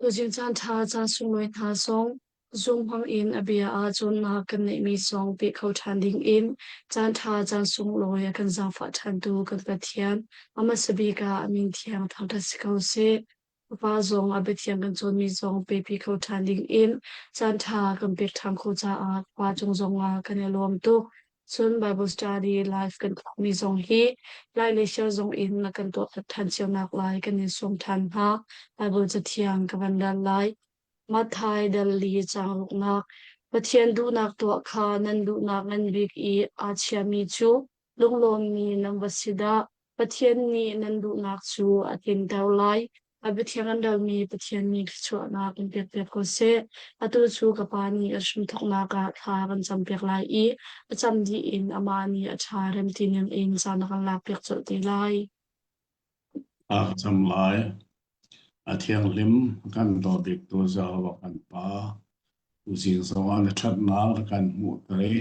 Kuzin caanṭha caan sunlai hna zong zung hmang in a bia ahcun na kan neihmi song pe kho ṭhan ding in caanṭha caan sunglawi a kan zaangfah ṭhantu kan Pathian Amasabika a min thiang thangṭhat si ko sih. Fapa zong a biathiang kan cawnmi zong pepi kho ṭhan ding in caanṭha kan pek ṭhan khawh caah khua cung zong ah kan i lawm tuk. Cun Bible study live kan tuahmi zong hi lai le siar zong in na kan tuah ṭhan cionak lai kan in sawm ṭhan hna. Bible cathiang ka van dal lai. Matthai dal li caanruknak Pathian duhnak tuah kha nan duhnak ngan bik i aa chiami cu lunglawmmi nan va si dah! Pathian nih nan duhnak cu a tlinter lai, a biathiang an relmi Pathian nih thluachuahnak in pekpiak ko seh. Atu cu ka Pa nih a hrimthawknak ah thla kan campiak lai i a cam dih in amah nih a tha rem tinin in ca na kan lakpiak colh te lai. Aa cam lai. A thianghlim kan dawt biktu Jehovah kan Pa, tuzing zongah na ṭhatnak a kan hmuhter i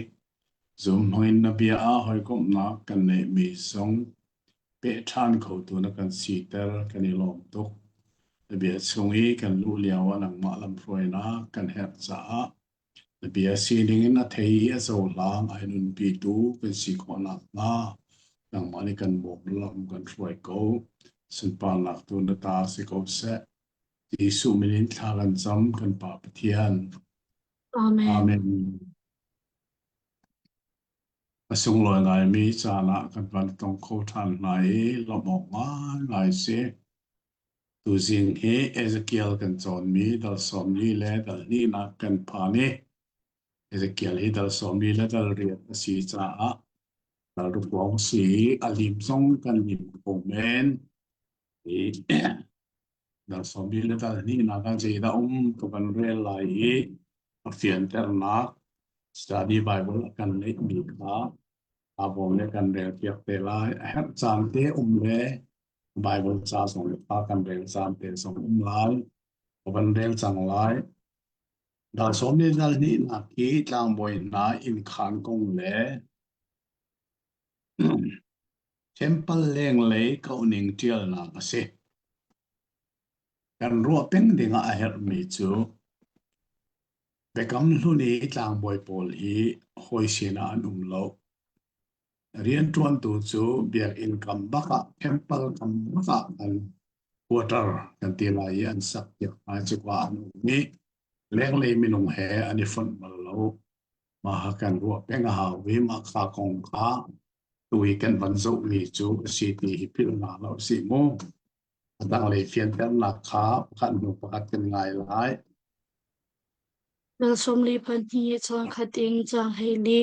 Zuhmawin na bia ah hawikomhnak kan neihmi zong peh ṭhan khotu na kan siter kan i lawm tuk. Na bia chung i kan luh lio ah nangmah lamhruainak kan herh caah na bia sining in a thei i a cohlang ai nunpitu kan si khawh nakhnga nangmah nih kan bawm lam kan hruai ko. Sunparnak tu na ta si ko seh. Jesuh min in thla kan cam kan Pa Pathian. Amen. Amen. A sunglawi laimi caan ah kan van tong kho ṭhan hna i lawmh awk ngaingai a si. Tuzing hi Ezekiel kan cawnmi dal sawmli le dal hnihnak kan phan i Ezekiel hi dal sawmli le dal riat a si caah dal rukhuang a si i a lim zong kan lim kho men. I Dah sawmbi le tal hnihnak ah zeidah um ka van rel lai i a fianternak study Bible a kan neihmi kha avawng le kan relpiak te lai. A herh caan te um le Bible ca zong le kha kan rel caan te zong um lai. Ka van rel cang lai. Dah sawmbi tal hnihnak hi tlangbawi hna innkhan kong le Temple lenglei kauhning ṭialnak a si. Kan ruah peng dingah a herhmi cu Biakam Hlun i tlangbawi pawl hi hawi sinah an um lo. Rianṭuantu cu Biakinn kam bakah temple kam bakah an quarter kan ti lai i an sakpiak hna i cuka an um i lenglei minung he an i fonh bal lo. Mah kan ruah peng a hau i mah kha kong kha tu i kan van zohmi cu a si ti hi philh nga lo si mu. A tanglei fianternak kha pakhat hnu pakhat kan ngai lai. Nang sawmli pahnih caan khat in caan hei li.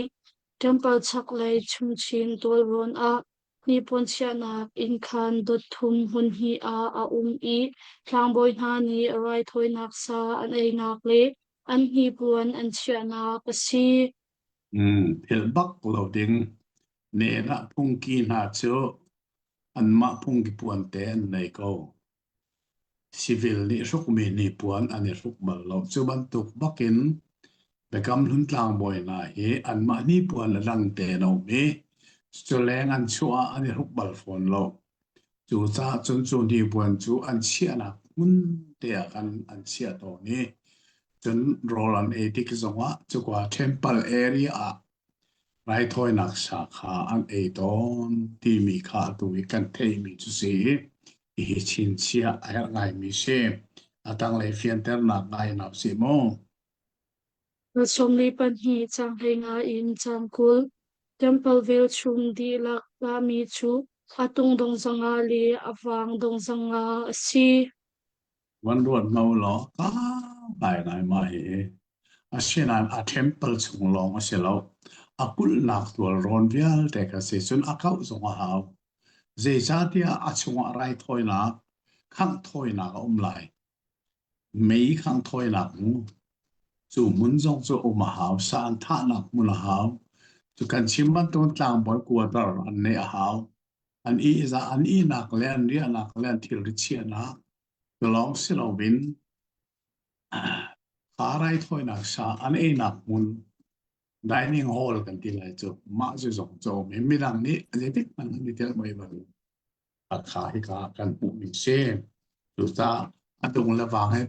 Temple chaklei chungchin tualrawn ah Hnipuan chiahnak inn khan dot thum hmunhnih ah a um i tlangbawi hna nih raithawinak sa an einak le an hnipuan an chiahnak a si. Thil bak lo ding nen ah phungki hna cu anmah phungki puan te an nei ko. Civil nih hrukmi hnipuan an i hruk bal lo. Cu bantuk bakin Biakam Hlun tlangbawi hna hi anmah hnipuan le dangte an um i culeng an chuah ah an i hruk bal fawn lo. Cucaah cun cu hnipuan cu an chiahnak hmun te ah khan an chiah tawn i cun rawl an ei tik zongah cuka temple area ah raithawinak sa kha an ei tawn timi kha atu i kan theihmi cu a si i Hihi chinchiah a herh ngaimi si. A tanglei fianternak ngai na si maw? Ka sawmli pahnih cang heinga in cang kul, temple velchum dihlak tahmi cu a tung dong zongah le a vang dong zongah a si. Van ruat no law tampai ngai mah hihi. Asinain a temple chung lawng a si lo. A kulhnak tualrawn vialte kha si cun a kauh zong a hau. Zeicahtiah a chungah raithawinak, khangh thawinak a um lai. Mei khangh thawinak mu. Cu hmun zong cu um a hau. Saan thahnak hmun a hau. Cu kan chim bantukin tlangbawi kuadar an neih a hau. an ihzah an ihnak le an riahnak le an thilri chiahnak lawng si loin kha raithawinak sa an einak hmun dining hall kan ti lai cu mah cu zong cu mi midang nih zeitik hmanh an i tel mai bal a kha hi ka kan hmuh mi si cucaah a dong le vang he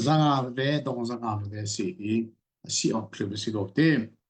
zanga ve dong zanga ve si hi a si awk thil a si ko ti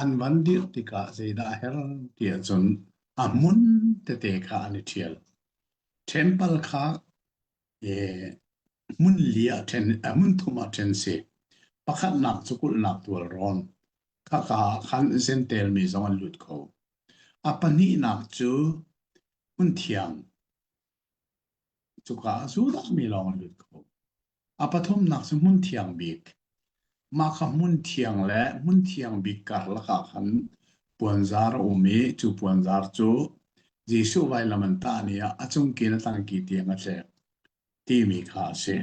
an van dirh tikah zeidah a herh ti ahcun a hmun tete kha an i ṭhial. Temple kha hmun li ah ṭhen hmun thum ah ṭhen si. Pakhatnak cu kulhnak tualrawn. Khaka ah khan Zentail mi zong an lut kho. A pahnihnak cu hmun thiang. Cuka ah sualmi lawng an lut kho. A pathumnak cu hmunthiang bik. Mah kha hmunthiang le hmunthiang bik karlak ah khan puanzar a um i cu puanzar cu Jesuh vailam an tah ni ah a cungki le tangki tiang a tlek timi kha a si.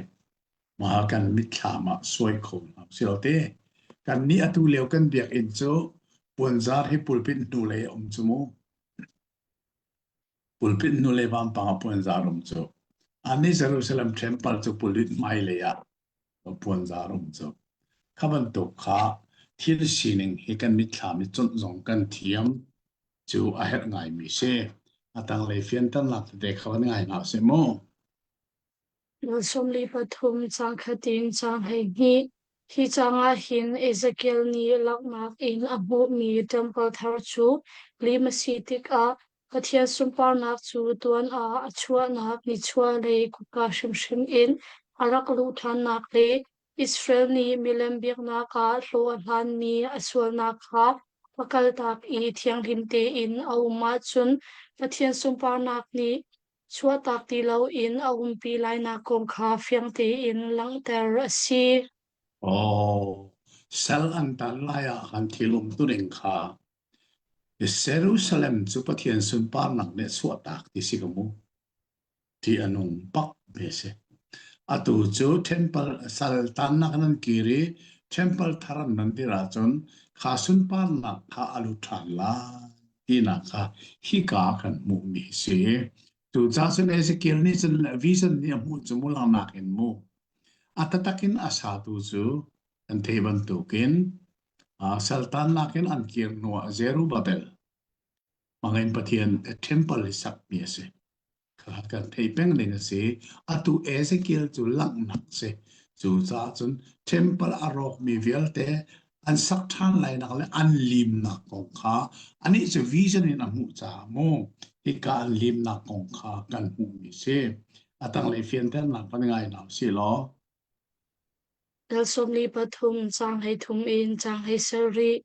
Mah kan mitthlam ah suai kho hna sih te. Kannih atu lio kan biakinn cu puanzar hi pulpit hnulei a um cu mu. pulpit nu le vampang a puan zarum cu ani Jerusalem temple cu pulit hmailei ah puan zarum cu kha bantuk kha thil sining hi kan mitthlam i cunh zong kan thiam cu a herh ngai mi si a tanglei fianternak tete kha van ngai hna se mu sawmli pathum cang khatin cang hei hnih Hi cang ah hin Ezekiel nih langhnak in a hmuhmi temple thar cu lim a si tikah Pathian sunparnak cu tuan ah a chuahnak nichuahlei kutka hrimhrim in a rak luh ṭhannak le Israel nih milem biaknak ah hlawh a hlanmi a sualnak kha va kaltak i thianghlim tein a um ahcun Pathian sunparnak nih chuahtak ti loin a umpi lainak kong kha fiang tein langhter a si. Aw, sal an tan lai ah kan thil umtuning kha Jerusalem cu Pathian sunparnak nih a chuahtak ti si ka mu ti a nung bak ve si. Atu cu temple saltannak nan kir i temple thar nan dir ahcun kha sunparnak kha a lut ṭhan lai tinak kha hika kan hmuhmi a si. Cucaah cun Ezekiel nih cun vision nih a hmuh cu mulangnak in mu. A tatak in a satu cu An theih bantukin Saltannak in an kir hnu ah Zerubbabel, mangin Pathian a temple i sakmi a si. Kha kan thei peng ning a si. Atu Ezekiel cu langhnak si. Cucaah cun temple a rawkmi vialte an sak ṭhan lainak le an limnak kong kha anih cu vision in a hmuh caah mu hika an limnak kong kha kan hmuhmi si. A tanglei fianternak van i ngai hna u sih law Dal sawm li pathum caang hleithum in caang hei ser rih.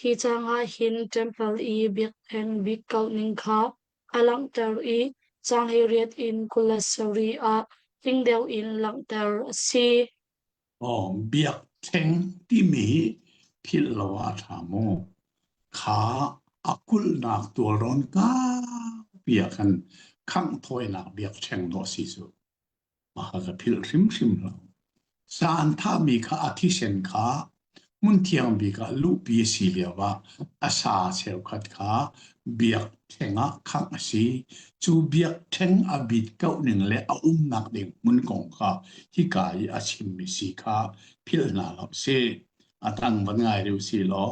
Hi caang ah hin ṭempal i biak'heng bik kauh ning kha a langhter i caang hei riat in kul le sarih ah tling deuh in langhter a si. Biak'heng timi philh lo ah a ṭha maw? Kha a kulhnak tualrawn kaupi ah khan khangh thawinak biakṭheng dawh a si cu. Mah ka philh hrimhrim lo. Saan thahmi kha a thisen kha hmunthiang bik ah luhpi a si lioah a sa cheukhat kha biakṭheng ah khangh a si. Cu biakṭheng a bit kauh ning le a umnak ding hmun kong kha hika i a chimmi si kha philh hna hlah u sih. A dang van ngai rih u sihlaw.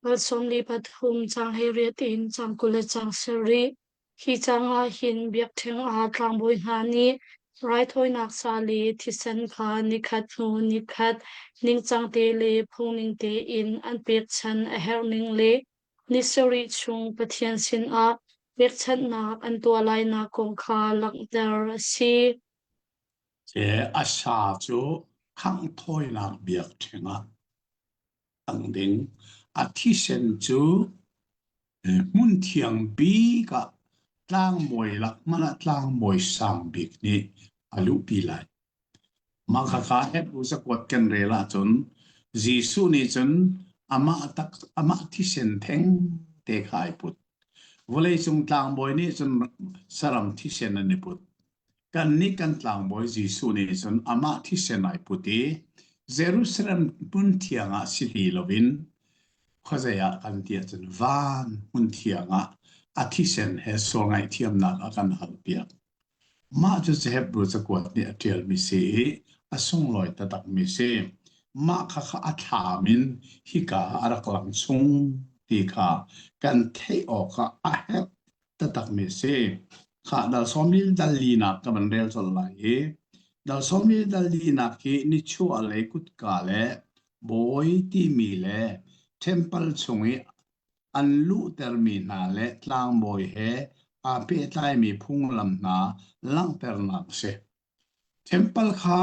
Val sawmli pathum caang he riat in caang kul le caang sarih. Hi caang ah hin biakṭheng ah tlangbawi hna nih raithawinak sa le thisen kha nikhat hnu nikhat ningcang te le phungning tein an pekchanh a herh ning le ni sarih chung Pathian sinah pekchanhnak an tuah lainak kong kha langhter a si. Ke a sa cu khangh thawinak biakṭheng ah ang ding. A thisen cu hmun thiang bik ah tlangmawi lak man ah tlangmawi sang bik nih a luhpi lai. Mah kha ka Hebrew zakuat kan rel ahcun Jesuh nih cun amah tak amah thisen theng te kha ai put. Vawleicung tlangbawi nih cun saram thisen an i put. kannih kan tlangbawi Jesuh nih cun amah thisen ai put i Jerusalem hmun thiang ah si li loin khuazei ah kan ti ahcun van hmun thiang ah a thisen he sual ngaihthiamnak a kan halpiak. Mah cu Hebrew cakuat nih a ṭialmi si i a sunglawi taktakmi si. Mah kha kha a thlam in hika a rak lang chung ti kha kan theih awkah a herh taktakmi a si. Kha dal sawmi dal linak ka van rel colh lai i dal sawmi dal linak hi nichuah lei kutka le bawi timi le temple chung i an luhtermi hna le tlangbawi he aa pehtlaimi phunglam hna langhternak a si. Temple kha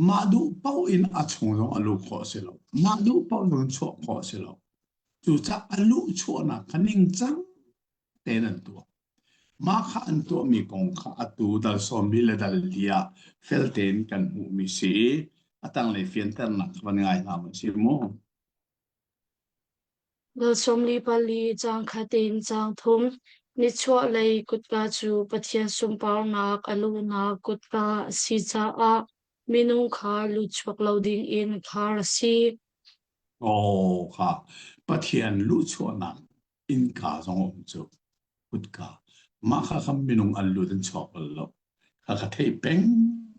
mah duh paoh in a chung zong a luh khawh a si lo. Mah duh paoh zong in chuah khawh a si lo. Cucaah a luhchuahnak kha ningcang tein an tuah. Mah kha an tuahmi kong kha atu dal sawmmi le dal li ah fel tein kan hmuhmi si i a tanglei fianternak van ngai hna u si mu. Nal sawmli pali caang khatin caang thum Nichuahlei kutka cu Pathian sunparnak a luhnak kutka a si caah minung kha luhchuak lo dingin khar a si. Aw kha Pathian luhchuahnak innka zong um cu kutka mah kha kha minung an lut an chuak bal lo kha ka thei peng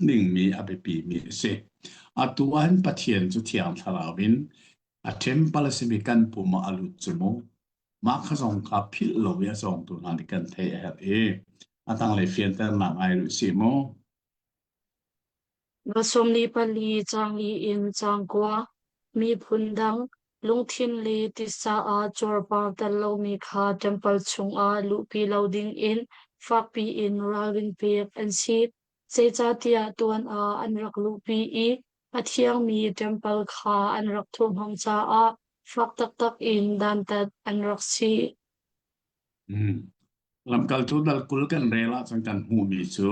dingmi a biapimi a si atu ahhin pathian cu thiang thlarau in a temple a simi kan pum ah a lut cu mu mah kha zong ka philh lo i a cawngtu hna nih kan theih a herh i a tanglei fianternak ngai rih si mu Va sawm li pali caangi in caangkua, miphun dang, lungthin le tisa ah cuarpar tel lomi kha ṭempal chungah luhpi lo dingin fakpi in ralrin pek an si. Zeicahtiah tuan ah an rak luhpi i a thiangmi ṭempal kha an rak thurhhnawm caah fak taktak in dantat an rak si. Lamkaltu dal kul kan rel ahcun kan hmuhmi cu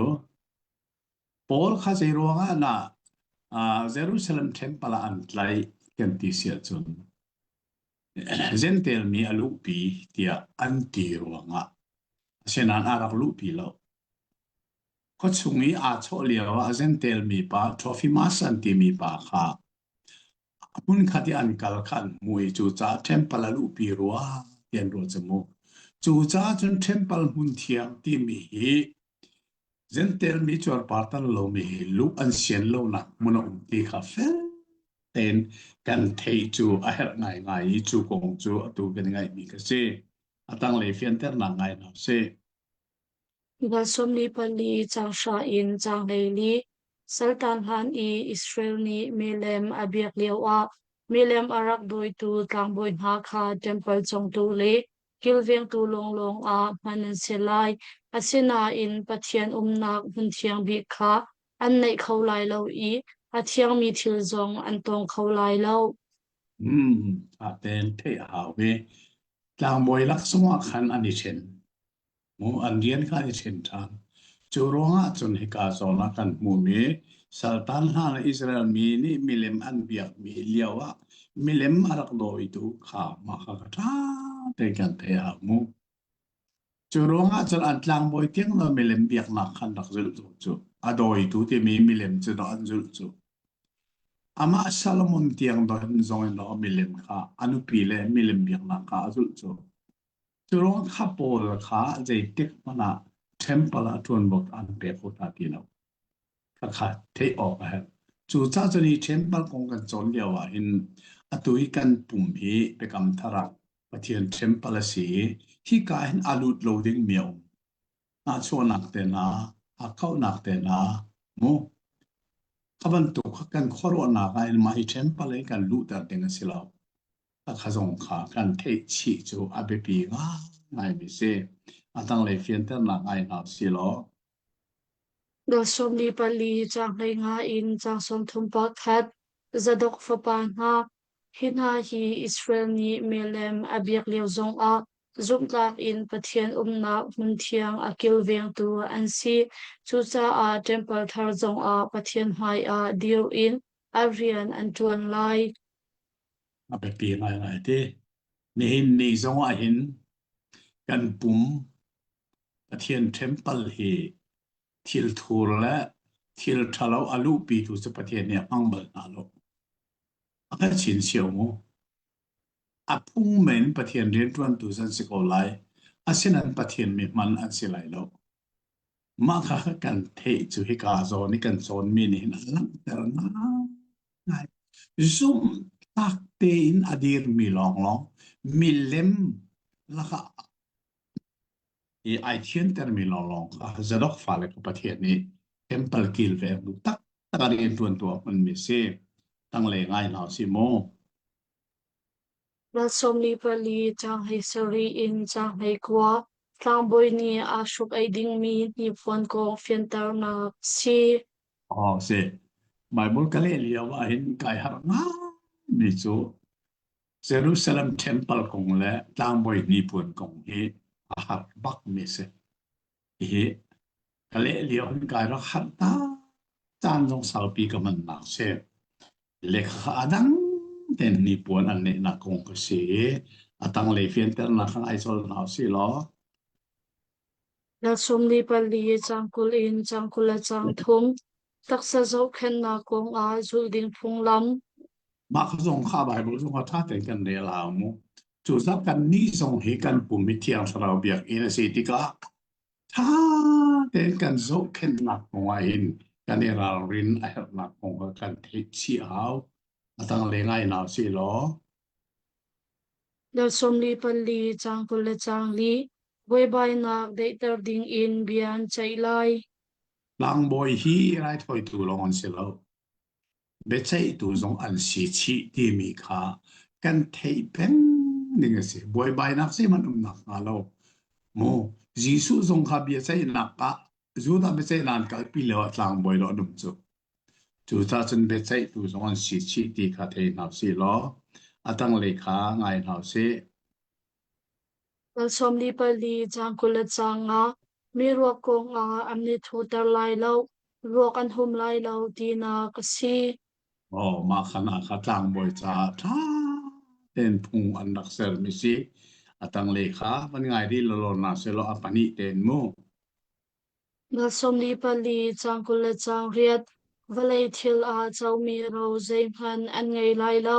Paul kha zeiruangah dah uh, Jerusalem temple ah an tlaih kan ti si ahcun Gentel mi a luhpi tiah an ti ruangah asinain a rak luhpi lo. Khuachung i aa chawh lio ah Gentel mi pa Trophimus an timi pa kha hmunkhat i an kal khan mui cucaah ṭhempal a luhpi rua ti an ruah cu mu. Cucaah cun ṭhempal hmun thiang timi hi Gentel mi cuarpar tan lomi hi luh an sian lonak hmun a um ti kha fel tein kan thei cu a herh ngaingai i cu kong cu atu kan ngaihmi ka si. A tanglei fianternak ngai hna sih. Na sawmli pali caang hra in caang hleili, saltan hlan i Israel nih milem a biak lioah milem a rak dawitu tlangbawi hna kha ṭempal congtu le kilvengtu lawnglawng ah hman an si lai. Asinain Pathian umnak hmun thiang bik kha an neih kho lai lo i a thiangmi thil zong an tawng kho lai lo. Hmm, a ten theih a hau ve. Tlangbawi laksawng ah khan an i ṭhen. an rian kha i ṭhen ṭhan. Cu ruangah cun hika zawn ah kan hmuhmi saltan hna le Israel mi nih milem an biakmi lioah milem a rak dawitu kha mah kha ka ṭha tein kan theih ah a hmuh. Cu ruangah cun an tlangbawi tiang lo milem biaknak kha an rak zulh cu cu a dawitu timi milem cu dah an zulh cu. Amah Solomon tiang zong in zong in milem kha a nupi le milem biaknak kha a zulh cu. Curuang kha Paul kha zeitik hmanh ah ṭempal ah ṭuanbok aan pek u hna ti lo. Khakha theih awk a herh. Cucaah cun i ṭempal kong kan cawn lio ah hin atu i kan pum hi Biakam Thar ah Pathian ṭempal a si i hika hin a lut lo dingmi a um. Nahchuahnak te hna, hakkauhnak te hna, mu. Kha bantuk kan khuaruahnak ah hin mah hi ṭempal hi kan luhter ding a si lo. Pakhat zong kha kan theih chih cu a biapi ngaingaimi si. A tanglei fianternak ngai hna silaw. Dawt sawmli pali caang hleinga in caang sawmthum pakhat Zadok fapa hna hi hna hi Israel nih melem a biak lio zongah zumhtlak in Pathian umnak hmun thiang a kilvengtu an si. Cucaah Temple thar zongah Pathian hmaiah dir in an rian an ṭuan lai. a biapi ngaingai ti. Nihin ni zong ah hin kan pum Pathian ṭempal hi thil thur le thil ṭhalo a luhpitu cu Pathian nih a hmang bal hna lo. A ka chin cio mu. A phung men Pathian rianṭuantu an si ko lai. Asinain Pathian mi hman an si lai lo. Mah kha kan theih cu hika zawn i kan cawnmi nih hin a langhter ngaingai. Zumhtak tein a dirmi lawnglawng milem lakah i ai thiantermi lawnglawng kha Zadok fale kha Pathian nih temple kilveng bu taktak ah rianṭuantu a hmunmi a si. Tanglei ngai hna u sih mu. Mah sawm li pali caanghei sarih in caanghei kua tlangbawi nih aa hruk ei dingmi hnipuan kong fianternak si. Aww si. Baibal ka leh lio ahhin kai harh ngaimi cu Jerusalem temple kong le tlangbawi hnipuan kong hi a har bakmi si. Hihi ka leh lio an kai rak har ta caan zong saupi ka hmannak si. Lekha adang ten hnipuan an neihnak kong ka si. Atang lei fianternak kan ai col hau si law. Nalsum ni pali cangkul in cangkul le cangthum taksa zohkhennak kong ah zulh ding phunglam Mah ka zong kha Bible zong ka tha ten kan rel hau mu. Cucaah kannih zong hi kan pum i thiang thlarau biakinn a si tikah ṭha tein kan zohkhenhnak kong ahhin kan i ralrin a herhnak kong kha kan theih chih a hau. A tanglei ngai hna sih law, Na sawmli pali caang kul le caang li buaibainak deihter dingin bia an ceih lai. tlangbawi hi raithawitu lawng an si lo. biaceihtu zong an si chih timi kha kan theih peng ning a si. Buaibainak zeihmanh um nak hnga lo. Mu, Jesuh zong kha biaceihnak ah Judah biaceihnak an kalpi lio ah tlangbawi lo num cu. Cu ta cun biaceihtu zong an si chih ti kha thei hna si law, a tanglei kha ngai hna si. Kal sawm li pali cang kul le cang nga mi ruak kong ah an i thuter lai lo, ruak an hum lai lo tinak a si. Oh, mah khan ah kha tlangbawi caah ṭha tein phung an rak sermi si. A tanglei kha van ngai rih lawlaw na selaw a pahnih tein mu. Nga sawm li pali cang kul le cang riat vawlei thil ah comi ro zeihmanh an ngei lai lo,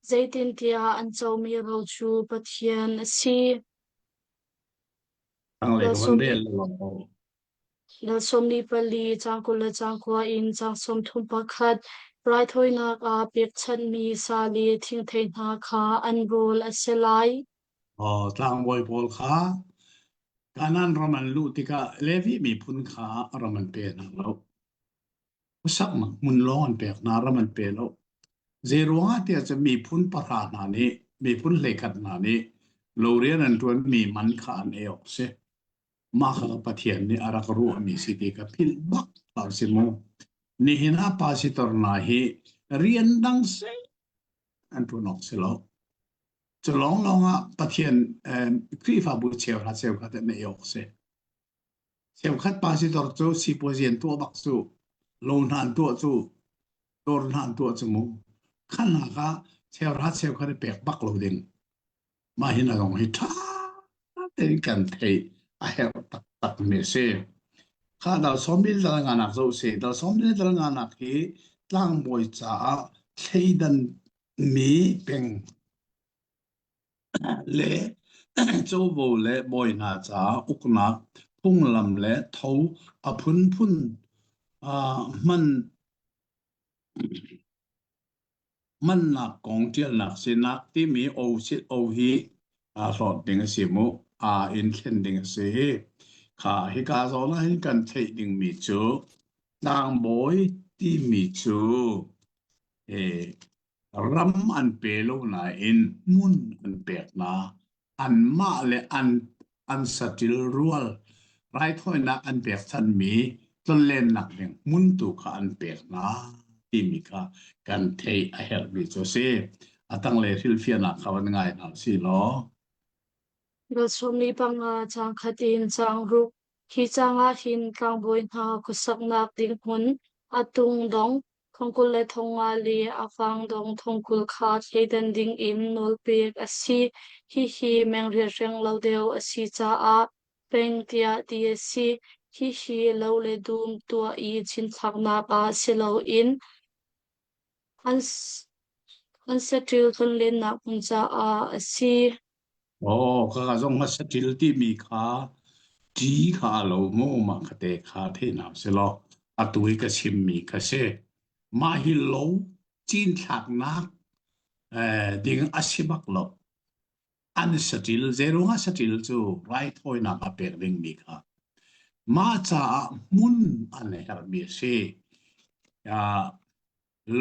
Zeitintiah an comi ro cu Pathian a si. Thlanglei hmun vel lo. Lal sawmli pali ca kul le ca kua in ca sawm thum pakhat raithawinak ah pekchanhmi sa le thingthei hna kha an rawl a si lai. Oh, tlangbawi pawl kha Kanaan ram an luh tikah Levi miphun kha ram an pe hna lo. khuasaknak hmun lawng an pek hna, ram an pe lo. Zeiruangah tiah cun miphun pahra hna nih, miphun hleikhat hna nih lorian an ṭuanmi man kha an ei awk a si. Mah kha Pathian nih a rak ruahmi si ti ka philh bak hlah u si mu. Nihin ah pastor hna hi rian dang seh an ṭuan awk si lo. Cu lawnglawng ah Pathian eh, Khrihfabu cheuhra cheukhat in ei awk a si. Cheukhat pa sidor cu sipuazi an tuah bak cu, lo hna an tuah cu, dawr hna an tuah cu mu. Khannak ah cheukhat cheukhat i pek bak lo ding. Mah hi na zong hi ṭha tein kan theih a herh taktakmi a si. Kha dalsawmbil dal nganak zoh si. Dalsawmbil dal nganak hi tlangbawi caah thleidanmi peng le covo le bawi hna caah uknak phunglam le tho a phunphun ah hman mannak kong ṭialnak sinak timi o sit o hi aa hlawt ding a si mu aa in thlen ding a si hi kha hika zawn ah hin kan theih dingmi cu tlangbawi timi cu eh, ram an pe lo nain hmun an pek hna. Anmah le an an satil rual raithawinak an pek thanmi tlonlennak ding hmun tu kha an pek hna timi kha kan theih a herhmi cu a si. A tanglei rilfianak kha van ngai hna si law. Velchumni panga cang khat in cang ruk. Hi cang ah hin tlangbawi hna khuasaknak ding hmun, a tung dong, Thongkul le thonga le a vangdong thongkul kha thleidan ding in nawlpek a si. Hihi meng riahreng lo deuh a si caah peng tiah ti a si. Hihi lo le dum tuah i cinthlaknak ah si loin an saṭil tlonlennak hmun caah a si. Aw, ka zong a saṭil timi kha ṭi kha a lo mu, mah ka te kha theihnak si law atu i ka chimmi kha si. Mah hi lo cinthlaknak eh, ding a si bak lo. An saṭil, zeirung a saṭil cu raithawinak a pek dingmi kha mah caah hmun an herhmi a si. Ah,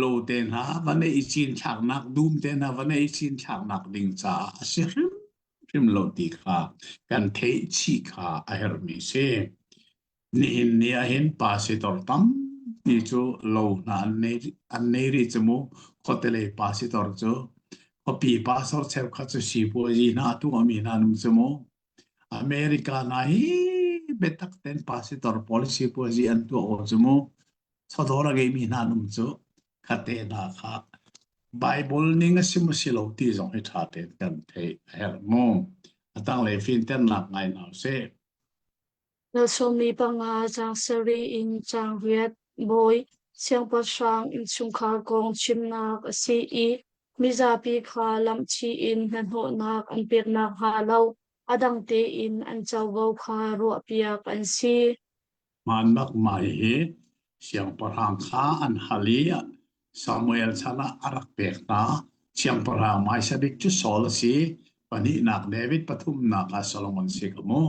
lo te hna va neih i cinthlaknak dum te hna va neih i cinthlaknak ding caah a si hrimhrim lo ti kha kan theih chih kha a herhmi si. Nihin ni ahhin pa si tor tampi cu lo hna an nei an nei ri cu mu khotelei pa si tor cu khuapi pa sor cheu kha cu sipuazi hna tu ami hna nung cu mu America na hi betak ten pa si tor policy puazi an tua o chu mu chawdawr a ngeimi hna an um cu khatte hna kha Baibal ning a si maw si lo ti zong hi ṭha tein kan theih a herh mu. A tanglei finternak ngai hna u sih. Na sawmmi panga caang sarih in caang riat bawi siangpahrang innchungkhar kong chimnak a si i mizapi kha lamhchih in hnahnawhnak an pek nakhnga lo a dang tein an covo kha ruahpiak an si. Hmaanbak mai hi siangpahrang kha an hal i Samuel chan ah a rak pek hna. Siangpahrang hmaisabik cu Saul a si. Pahnihnak David pathumnak ah Solomon si ka mu.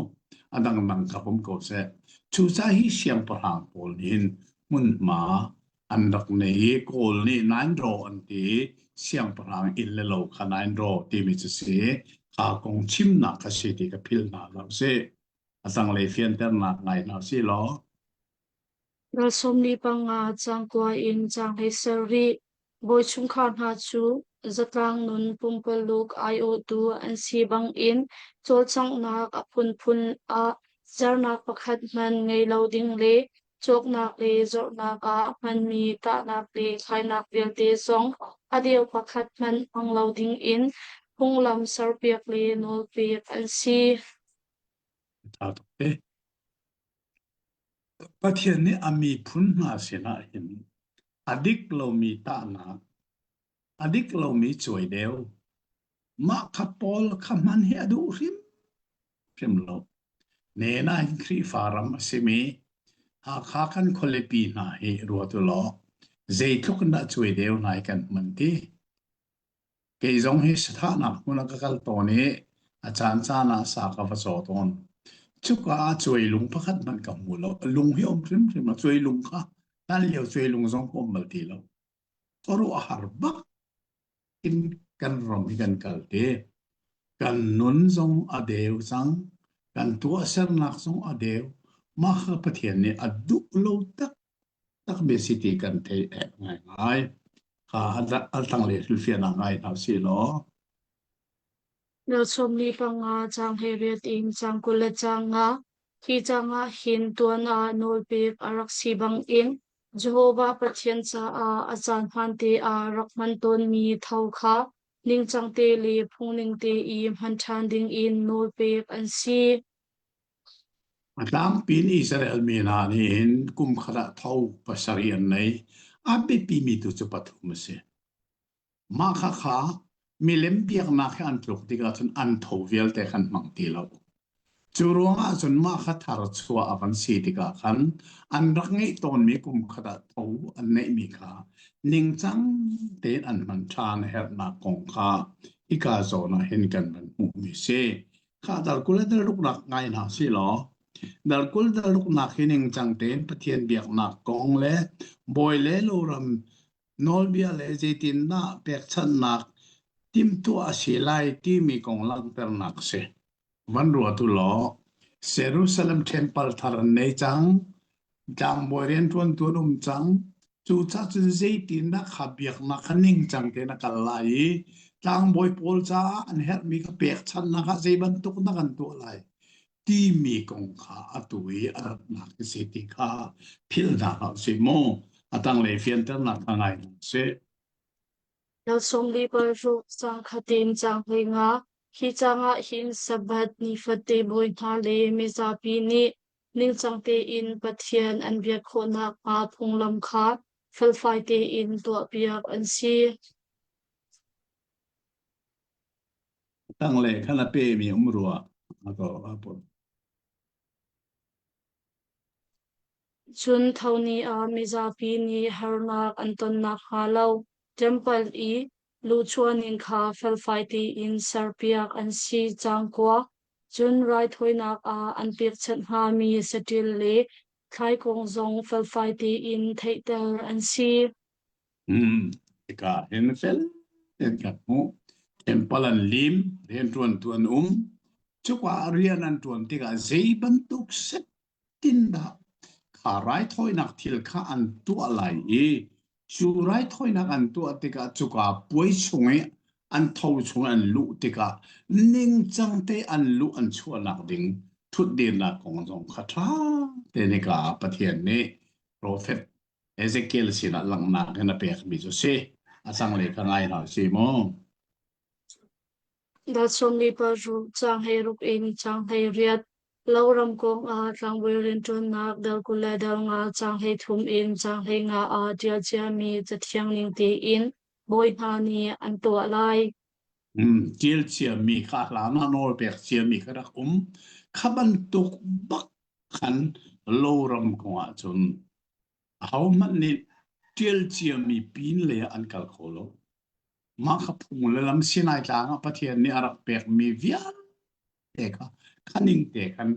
A dang nang ka pum ko seh. Cuca hi siangpahrang pawl nih hmunhma an rak nei i Kawl nih Nainraw an ti i siangpahrang inn le lo kha Nainraw timi cu si. Kha kong chimnak a si ti ka philh hna lo sih. a zanglei fianternak ngai hna sih law. Ral sawmli panga cangkua in cang hei ser rih. Bawi chungkhar hna cu zatlang nun pumpaluk aiawhtu an si bangin cawlcanghnak a phunphun ah sernak pakhat hman ngei lo ding le cawknak le zornak ah hmanmi tahnak le khainak vialte zong a deu pakhat hmanh hmang lo dingin phunglam serpiak le nawlpek an si. Aa tuk e. Pathian nih a miphun hna sinah hin a dik lomi tahnak, a dik lomi cuaideu, mah kha Paul kha hman hi a duh hrimhrim lo. Nena hin Khrihfa ram a simi Hakha kan khualipi hna hi ruat u law zeitluk in dah cuaideu hna hi kan hman ti. Kei zong hi sathahnak hmun ah ka kal tawn i a caancaan ah sa ka va caw tawn. Cuka ah cuailung pakhat hmanh ka hmu lo. Lung hi a um hrimhrim lo. Cuailung kha hlan lio cuailung zong ka um bal ti lo. Khuaruahhar bak in kan ram hi kan kal te. Kan nun zong a deu cang. Kan tuahsernak zong a deu. Mah kha Pathian nih a duh lo taktak takmi si ti kan theih ek ngaingai. Ka altangle filfianak ngai hna si law. Nalchom ni panga cang he riat in cang kul le cang nga. Hi cang ah hin tuan ah nawlpek a rak si bang in Jehovah Pathian caah a caan hmaan te ah rak hman tawnmi thau kha ningcang te le phungning te i hman ṭhan ding in nawlpek an si. A tlangpi in Israel mi hna nih hin kum khat ah tho pasarih an nei. A biapimi tu cu pathum a si. Mah khakha milem biaknak he an tluk tikah cun an tho vialte khan hmang ti lo. Cu ruangah cun mah kha thar chuah a kan si tikah khan an rak ngeih tawnmi kum khat ah tho an neihmi kha ningcang tein an hman ṭhan a herhnak kong kha hika zawn ah hin kan van hmuhmi a si. Khahter kul in ruknak ngai hna si law, dal kul dal ruknak hi ningcang tein Pathian biaknak kong le bawi le loram nawlbia le zeitindah pekchanhnak timtuah a si lai timi kong langhternak si. Van ruatu law, Jerusalem temple thar an nei cang, Tlangbawi rianṭuantu an um cang. Cucah cun zeitindah kha biaknak kha ningcang tein a kal lai i tlangbawi pawl caah an herhmi kha pekchanhnak ah zei bantuk dah kan tuah lai timi kong kha atu i a ratnak in si ti kha philh hna hlah sih maw a tanglei fianternak kha ngai hna sih. Na sawmli paruk cang khatin cang hlei nga, hi cangah hin Sabbath ni fate bawi hna le mizapi nih ningcang tein Pathian an biak khawhnak hnga phunglam kha felfai tein tuahpiak an si. Tanglei khan a pemi um rua ako apun. Cun thoni ah mizapi nih harnak an ton nakhnga lo, temple i Luchuaning kha felfai tein serpiak an si cang kuak, cun raithawinak ah an pekchanh hngami saṭil le thlaikawng zong felfai tein theihter an si. Tikah hin fel tein kan hmuh. Temple an lim, rianṭuantu an um. Cuka rian an ṭuan tikah zei bantuk set tindah kha raithawinak thil kha an tuah lai i cu raithawinak an tuah tikah cuka puai chung i an tho chung an luh tikah ningcang te an luh an chuahnak ding thutdirnak kong zong kha ṭha te nika Pathian nih profet Ezekiel sinah langhnak in a pekmi cu si a zanglei ka ngai hna si mu. Dah sawmlipa ruh caanghei ruk in caanghei riat lo ram kong ah tlangbuil rianṭuannak dal kul le dal nga caanghei thum in caanghei nga ah ṭial ciami cathiang ning tein bawi hna nih an tuah lai. Ṭial ciami kha hlan ah nawl pek ciami kha rak um. Kha bantuk bak khan lo ram kong ah cun ahohmanh nih ṭial ciami pin le an kal kho lo. Mah ka phung le lam Sinai tlang ah Pathian nih a rak pekmi vialte kha kha ning te khan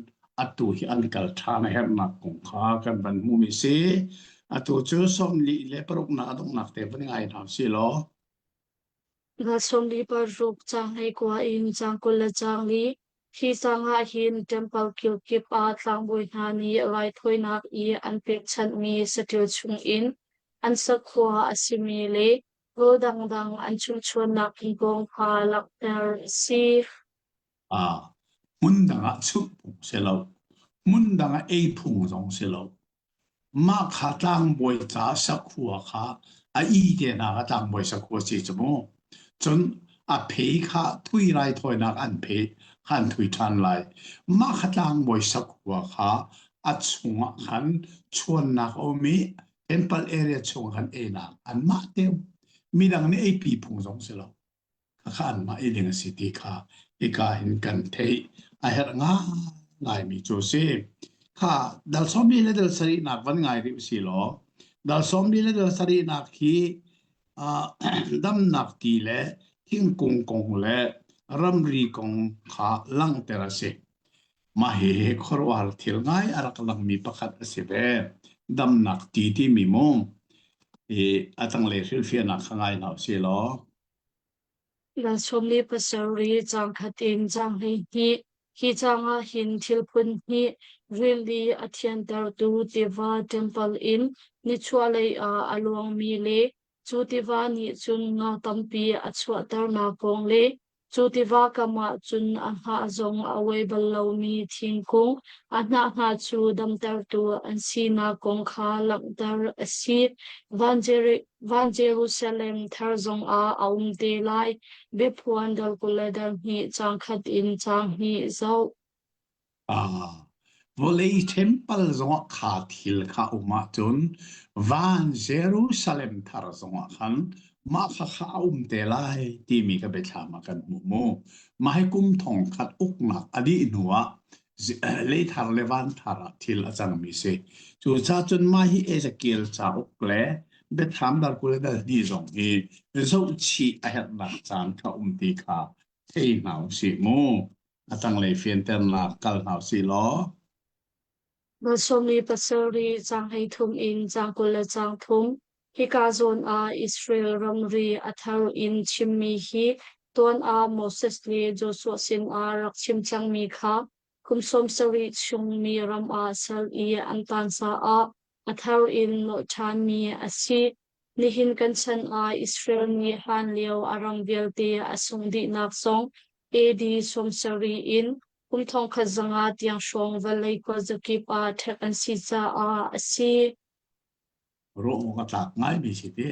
atu hi an kal ṭhan a herhnak kong kha kan van hmuhmi si. Atu cu sawmli le paruknak a donghnak te van i ngai hna sih law. Nga sawmli paruk caang hleikua in caang kul le caang li khi caang ah hin temple kilkip ah tlangbawi hna nih raithawinak i an pekchanhmi saṭil chungin an sakhua a simi le Kaw dangdang an chungchuannak i kong kha langhter a si. Ah, hmun dangah chuhphung si lo, hmun dangah eiphung zong si lo. Mah kha tlangbawi ca sakhua kha a i tenak a tlangbawi sakhua si cu mu. Cun a phe kha thui rai thawinak an phe khan thui ṭhan lai. Mah kha tlangbawi sakhua kha a chungah khan chuannak a um i Temple area chung kan einak anmah tew midang ne ei pi phung zong si lo kha anmah ei ding a si ti kha hika in kan thei a her nga ngai mi chu si kha dal sombi le dal sari nak van ngai ri si lo dal sombi le dal sari nak hi damnak ti le thingkung kong le ramri kong kha langter a si Mah hihi khuaruahhar thil ngai a rak langmi pakhat a si ve. Damnak ti timi mu. Hi a tanglei hrilhfiahnak kha ngai hna u sih law. Ral sawmli pasarih caang khat in caang hleihnih. Hi caang ah hin thil phunhnih rili a thiantertu tiva ṭempal in nichuahlei ah a luangmi le Cu tiva nih cun nga tampi a chuahternak kong le cu tiva kam ah cun a hngah zong a oi bal lomi thingkung a hnah hna cu damtertu an sinak kong kha langhter a si. Van Jeri- Van Jerusalem thar zongah a um te lai. Biaphuan dal kul le dal hnih, caang khat in caang hnih zoh. Vawlei ṭhempal zongah kha thil kha a um ahcun van Jerusalem thar zongah khan mah kha kha a um te lai timi kha biathlam ah kan hmuh mu. Mah hi kum thongkhat uknak a dih hnuah leithar le vanthar ah thil a cangmi si. Cucacun mah hi Ezekiel cauk le biathlam dal kul le dal hnih zong hi zohchih a herhnak caan kha um ti kha thei hna u sih mu. a tanglei fianternak kal hna sih law Nga sawmli pasarih caang hleithum in caang kul le caang thum Hika zawn ah Israel ramri a thar in chimmi hi tuan ah Moses le Joshua sinah rak chim cangmi kha kum sawm sarih chungmi ram ah sal i an tan caah a thar in nawh ṭhanmi a si Nihin kan chan ah Israel nih hlan lio a rang vialte a sung dihnak zong AD sawmsarih in kum thongkhat zanga tiang hrawng vawlei khuazakip ah ṭhek an si caah a si. Ruang a tlak ngaimi si ti.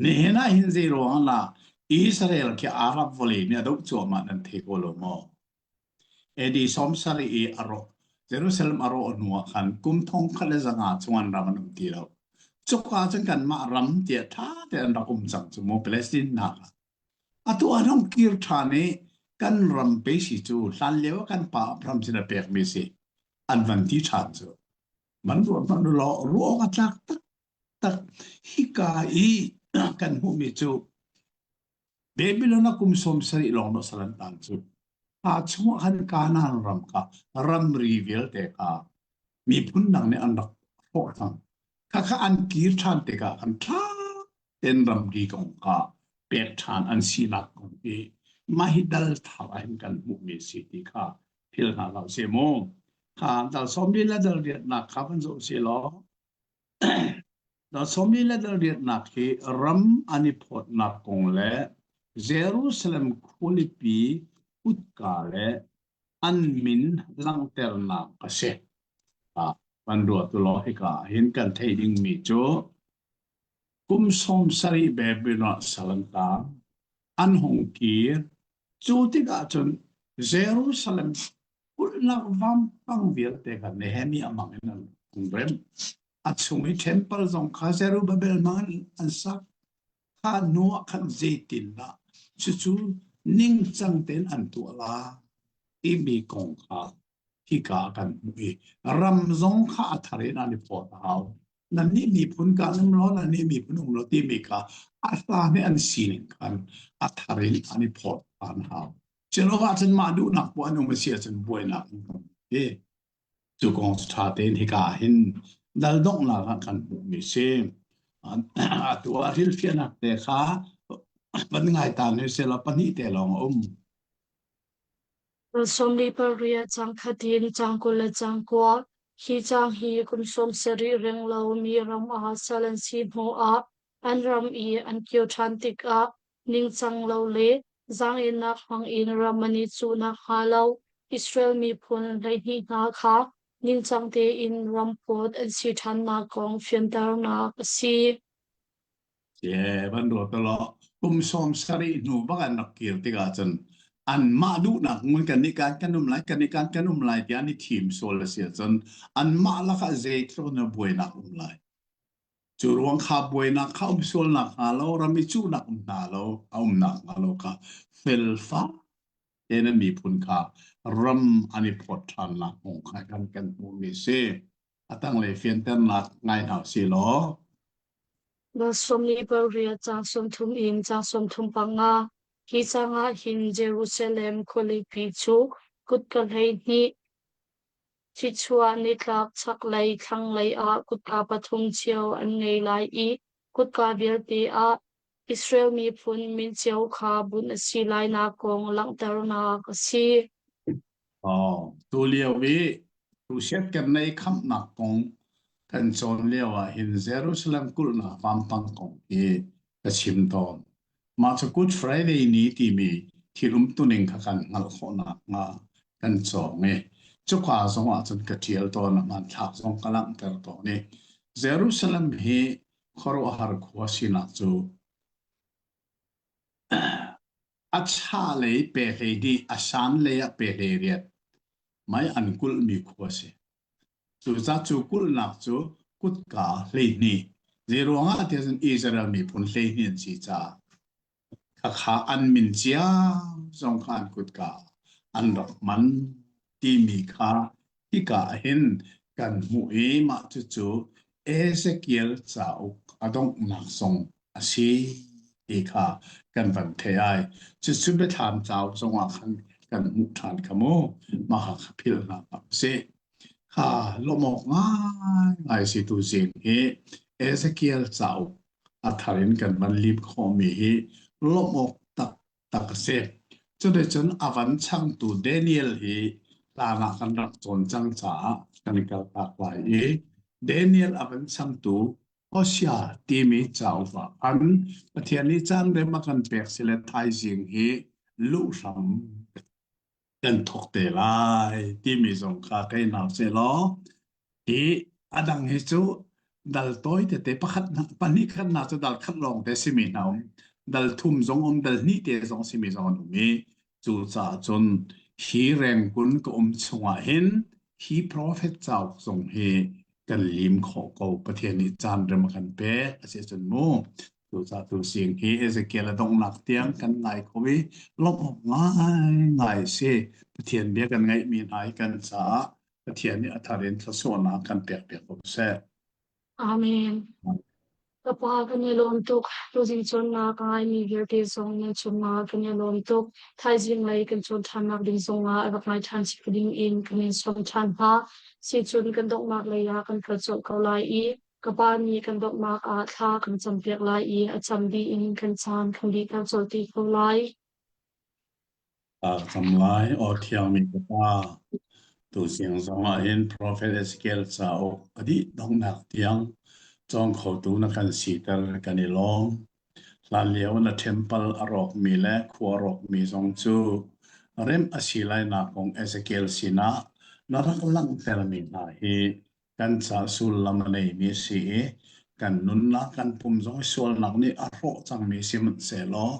Nihin ah hin zeiruang ah Israel khi Arab vawlei nih a doh cuahmah nan thei ko lo maw? AD sawm sarih i a rawh. Jerusalem a rawh hnuah khan kum thong khat le zanga chungan ram an um ti lo. Cuka cun kanmah ram tiah ṭha tein an rak um cang cu mu Palestine hna kha. Atu an hong kir ṭhan i kan ram pe si cu hlan lio kan pa Abraham sin a pekmi si an van ti ṭhan cu. Man ruat man law ruang a tlak tak tak hika i kan hmuhmi cu David le na kum sawm sarih lawng na sal an tang cu. Kha chungah khan Kanaan ram kha ramri vialte kha miphun dang nih an rak hrawh cang. Khakha an kir ṭhan tikah khan ṭha tein ramri kong kha pek ṭhan an sinak kong hi mah hi dal thar ah hin kan hmuhmi a si ti kha philh hna hlah sih maw. Kha dal sawm lila dal riatnak kha van zoh sih law Sawmi le riatnak hi ram an i phawtnak kong le Jerusalem khualipi kutka le an min langhternak a si. Kan ruat law hika ah hin kan theih dingmi cu kum sawm sarih Babylon ah sal an tang an hung kir Cu tikah cun Jerusalem kulhlak vampang vialte kha Nehemiah mang in an hung rem. A chung i temple zong kha Zerubbabel mang in an sak. Kha hnu ah khan zeitindah cucu ningcang tein an tuah lai timi kong kha hika ah kan hmuh i ram zong kha a thar in an i phawt a hau. nannih miphun ka nung lo nannih miphun um lo timi kha a hla nih an sining khan a thar in an i phawt an hau Jehovah cun mah duhnak bu an um a si ahcun buainak an kan hi cu kong cu ṭha tein hika hin dal donghnak ah kan hmuhmi si atu ah rilfiahnak te kha van ngai ta ni sela pahnih te lawng a um Kum sawm li pariat cang khat in cang kul le cang kua, hi cang hi kum sawm sarih reng lo mi ram ah sal an si hnu ah an ram i an kio ṭhan tikah ningcang lo le zaangennak hmang in ram an i cuhnak hnga lo Israel miphun hleihnih hna kha ningcang tein ram phawt an si ṭhannak kong fianternak a si. Ke van ruat to lo kum sawm sarih hnu bak an rak kir tikah cun an mah duhnak ngun kan i kan kan um lai kan i kan kan um lai tiah an i thim sual a si ahcun an mah lakah zeitluk na buainak um lai cu ruang kha buainak kha um sual nakhnga lo ram i cuhnak um hna lo a um nakhnga lo kha fel fak tein miphun kha ram an i phawt ṭhan nak kong kha kan kan hmuhmi a si. a tanglei fianternak ngai hna si law na sawmli parria ca sawmthum in ca sawmthum panga hi cangah hin Jerusalem khualipi cu kut ka hlei hnih thichuah nitlak chaklei thlanglei ah kut a pathum cio an ngei lai i Kutka vialte ah Israel miphun min cio kha bunh a si lainak kong langhternak a si. Oh, tu lio i tusiatkernei khamhnak kong kan cawn lio ah hin Jerusalem kulhnak vampang kong hi ka chim tawn. Mah cu Good Friday ni timi thil umtuning kha kan hngalh khawh nakhnga kan cawm i cuka zongah cun ka ṭial tawn i hmanthlak zong ka langhter tawn i Jerusalem hi khuaruahhar khua sinak cu a chahlei pehhlei nih a sanlei ah pehhlei riat mei an kulhmi khua a si. Cucaah cu kulhnak cu kutka hleihnih, zeiruangah tiah cun Israel miphun hleihnih an si caah khakha an min cia zong kha an kutka an rak man timi kha hika ah hin kan hmuh i mah cucu Ezekiel cauk a donghnak zong a si ti kha kan van theih ai. Cucu biathlam tlau zongah khan kan hmuh ṭhan kha mu maha kha phil hna a si. Kha lawmawk ngai si tu zing hi Ezekiel cauk a thar in kan van lip khawmi hi lawmawk tak tak a si. Cuticun a van changtu Daniel hi lana kan rak cawn cang caah kan i kaltak lai i Daniel a van changtu Khuachia timi cauk ah khan Pathian nih caan rem a kan pek si le thaizing hi luh hram kan thok te lai timi zong kha kai hna se law hi a dang hi cu dal toi tete pakhat pahnih khat na cu dal khat lawng te simi hna um dal thum zong um dal hnih te zong simi zong an um i Cucaah cun hi rengkun ka um chungah hin hi prophet cauk zong hi kan lim khawh ko Pathian nih caan rem a kan pek a si cun mu cucaah tu sing hi Ezekiel a donghnak tiang kan ngai ko i lawmh ngai ngai si Pathian bia kan ngaihmi hna i kan caah Pathian nih a thar in thluasuahnak kan pek piak ko seh Amen. Ka pa kan i lawm tuk. Tuzing cawnnak ka ngaimi vialte zong nan cungah kan i lawm tuk. Thaizing lei kan cawn ṭhannak ding zongah rak ngai ṭhan si ding in kan in sawm ṭhan hna. Sicun kan donghnak lei ah kan kal colh ko lai i ka pa nih kan donghnak ah thla kan campiak lai i a cam dih in kan caan kan dih ter colh ti ko lai. Kam lai aw thiangmi fapa, tu siang zong ah hin Prophet Ezekiel cauk pahnih donghnak tiang cawng khotu na kan siter kan i lawm. Hlan lio na temple a rawkmi le khua rawkmi zong cu rem a si lai nak kong Ezekiel sinah na rak langhtermi hna hi kan ca sullam a neimi a si i kan nunnak kan pum zong i sualnak nih a hrawh cangmi sihmanhsehlaw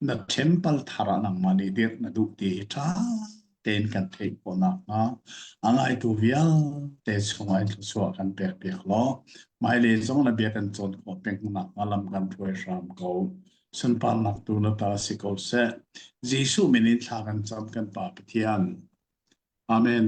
na temple thar ah nangmah nih dirh na duh ti hi ṭha tein kan theih khawh nakhnga a ngaitu vialte chungah in thluachuah kan pek piak law hmailei zong na bia kan cawn khawh peng nakhnga lam kan hruai hram ko sunparnak tu na ta si ko seh Jesuh min in thla kan cam kan Pa Pathian Amen